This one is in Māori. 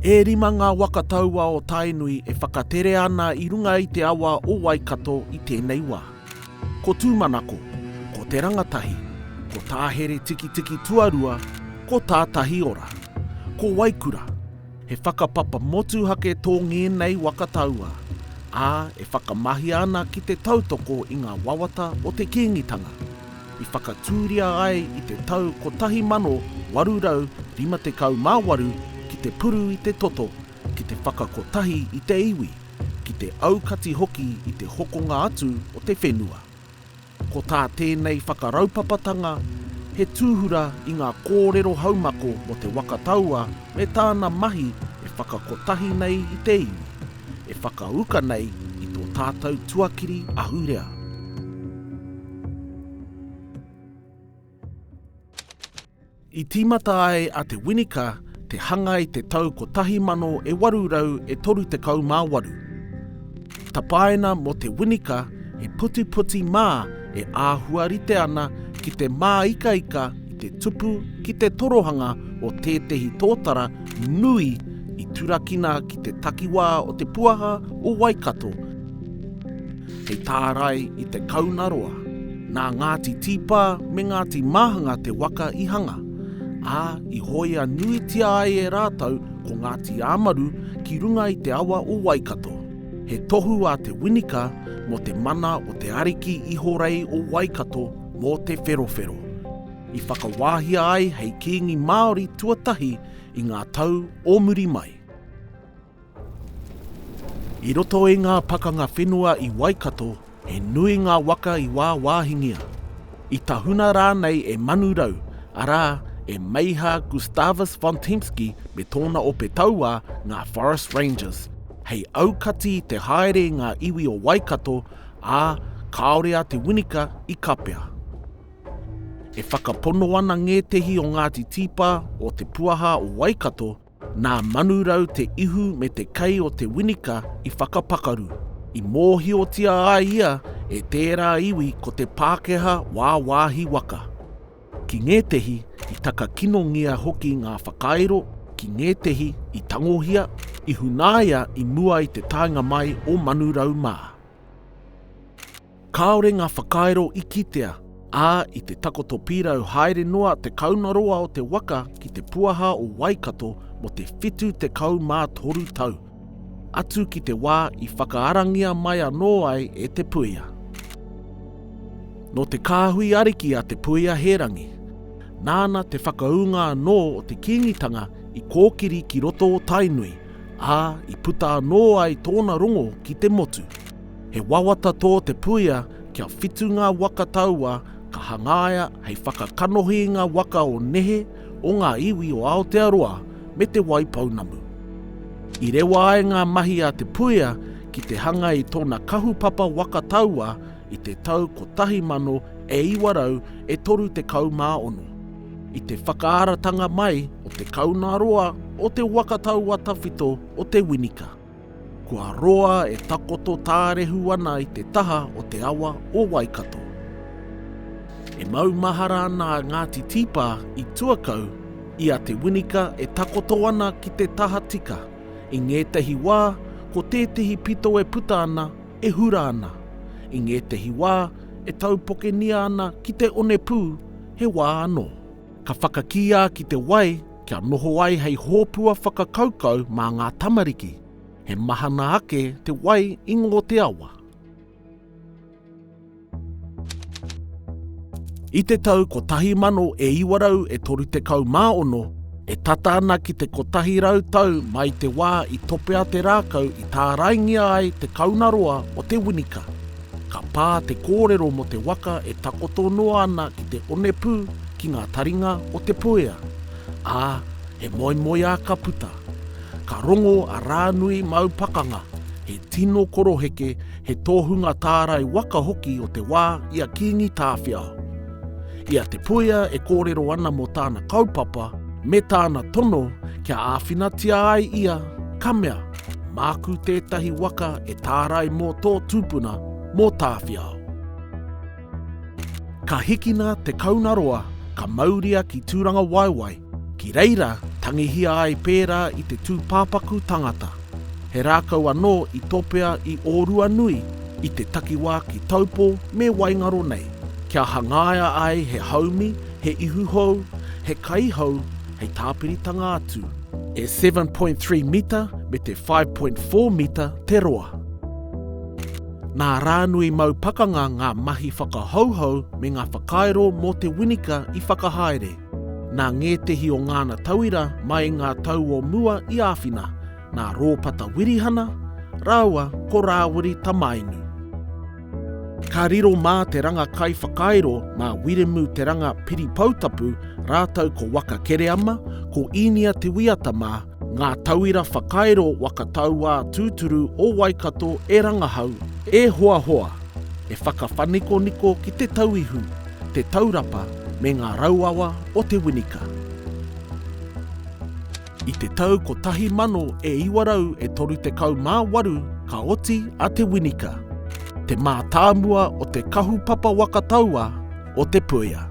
E rima ngā waka taua o Tainui e whakatere ana i runga i te awa o Waikato i tēnei wā. Ko Tūmanako, ko Te Rangatahi, ko Tāhere Tikitiki Tuarua, ko Tātahiora, ko Waikura, he whakapapa motuhake tō ngēnei waka taua, ā, e whakamahia ana ki te tautoko i ngā wawata o te Kīngitanga. i whakatūria ai i te tau 1858 ki te puru i te toto, ki te whakakotahi i te iwi, ki te aukati hoki i te hokonga atu o te whenua. Ko tā tēnei whakaraupapatanga he tūhura i ngā kōrero haumako mō Te Waka Taua me tāna mahi e whakakotahi nei i te iwi. e whakauka nei i tō tātou tuakiri ahurea. I tīmata ai a Te Winika te hanga i te tau 1838. Tapaina mō Te Winika he putiputi mā e āhua rite ana ki te māikaika i te tupu ki te torohanga o tētehi tōtara nui i turakina ki te takiwā o te puaha o Waikato hei tārai i te kaunaroa. Nā Ngāti Tīpā me Ngāti Māhanga te waka i hanga, ā, i hōia nuitia ai e rātou ko Ngāti Āmaru ki runga i te awa o Waikato. He tohu a Te Winika mō te mana o te ariki ihorei o Waikato mō Te Wherowhero, i whakawāhia ai hei kīngi Māori tuatahi i ngā tau o muri mai. I roto i ngā pakanga whenua i Waikato, He nui ngā waka i wāwāhingia, i tahuna rānei e Manu Rau, arā, e Meiha Gustavus von Tempsky me tōna ope tauā, ngā Forest Rangers. Hei aukati i te haere i ngā iwi o Waikato, ā, kāore a Te Winika i kapea. E whakapono ana ngētehi o Ngāti Tīpā, o Te Puaha o Waikato, Nā Manurau te ihu me te kei o Te Winika i whakapakaru, i mōhiotia a ia e tērā iwi ko te Pākehā wāwāhi waka. Ki ngētehi i takakinongia hoki ngā whakairo, ki ngētehi i tangohia, i hunaia i mua i te taenga mai o Manurau mā. Kāore ngā whakairo i kitea, ā, i te takoto pīrau haere noa te kaunaroa o te waka ki te puaha o Waikato mō te 73 tau, atu ki te wā i whakaarangia mai anō ai e Te Puia. Nō te kāhui ariki a Te Puia Hērangi, nāna te whakaūnga anō o te Kīngitanga i kōkiri ki roto o Tainui, ā, i puta anō ai tōna rongo ki te motu. He wawata tō te puia kia whitu ngā waka taua ka hangaia hei whakakanohi i ngā waka o nehe, o ngā iwi o Aotearoa me Te Wai Pounamu. I rewa ai ngā mahi a te puia ki te hanga i tōna kahupapa waka taua i te tau 1900 e 36. I te whakaaratanga mai o te kauna roa o te waka taua tawhito o Te Winika. Kua roa e takoto tārehu ana i te taha o te awa o Waikato. E maumahara ana a Ngāti Tīpā i Tuakau i a Te Winika e takoto ana ki te tahatika, i ngētehi wā ko tētehi pito e puta ana e hura ana, i ngētehi wā e taupokengia ana ki te onepū, he wā anō. Ka whakakīā ki te wai kia noho ai hei hōpua whakakaukau mā ngā tamariki. He mahana ake te wai i ngō te awa. I te tau 1900 e 36, e tata ana ki te 100 tau mai te wā i topea te rākau i tāraingia ai te kauna roa o Te Winika. Ka pā te kōrero mō te waka e takoto noa ana ki te onepū ki ngā taringa o Te Puea, ā, he moemoeā ka puta. Ka rongo a Rānui Mau Pakanga, he tino koroheke, he tohunga tārai waka hoki o te wā i a Kīngi Tāwhiao. I a Te Puea e kōrero ana mō tāna kaupapa me tāna tono kia āwhinatia ai ia, ka mea, Māku tētahi waka e tārai mō tō tūpuna, mō Tāwhiao. Ka hikina te kaunaroa, ka mauria ki Tūrangawaewae, ki reira tangihia ai pērā i te tūpāpaku tangata. He rākau anō i topea i Ōruanui, i te takiwā ki Taupō me Waingaro nei, kia hangaia ai he haumi, he ihu hou, he kaihou hei tāpiritanga atu. E 7.3 mita me te 5.4 mita te roa. Nā Rānui Mau Pakanga ngā mahi whakahouhou me ngā whakairo mō Te Winika i whakahaere. Nā ngētehi o ngāna tauira mai ngā tau o mua i āwhina, nā Rōpata Wirihana rāua ko Rāwiri Tamainu. Ka riro mā te ranga kaiwhakairo, mā Wiremu Te Ranga Piripoutapu rātou ko Waka Kereama, ko Īnia Te Wīata mā, ngā tauira whakairo waka tauā tūturu o Waikato e rangahau, e hoahoa, e whakawhanikoniko ki te tauihu, te taurapa me ngā rauawa o Te Winika. I te tau 1000 e 900 e 38 ka oti a Te Winika, te mātāmua o te kahupapa waka taua o Te Puea.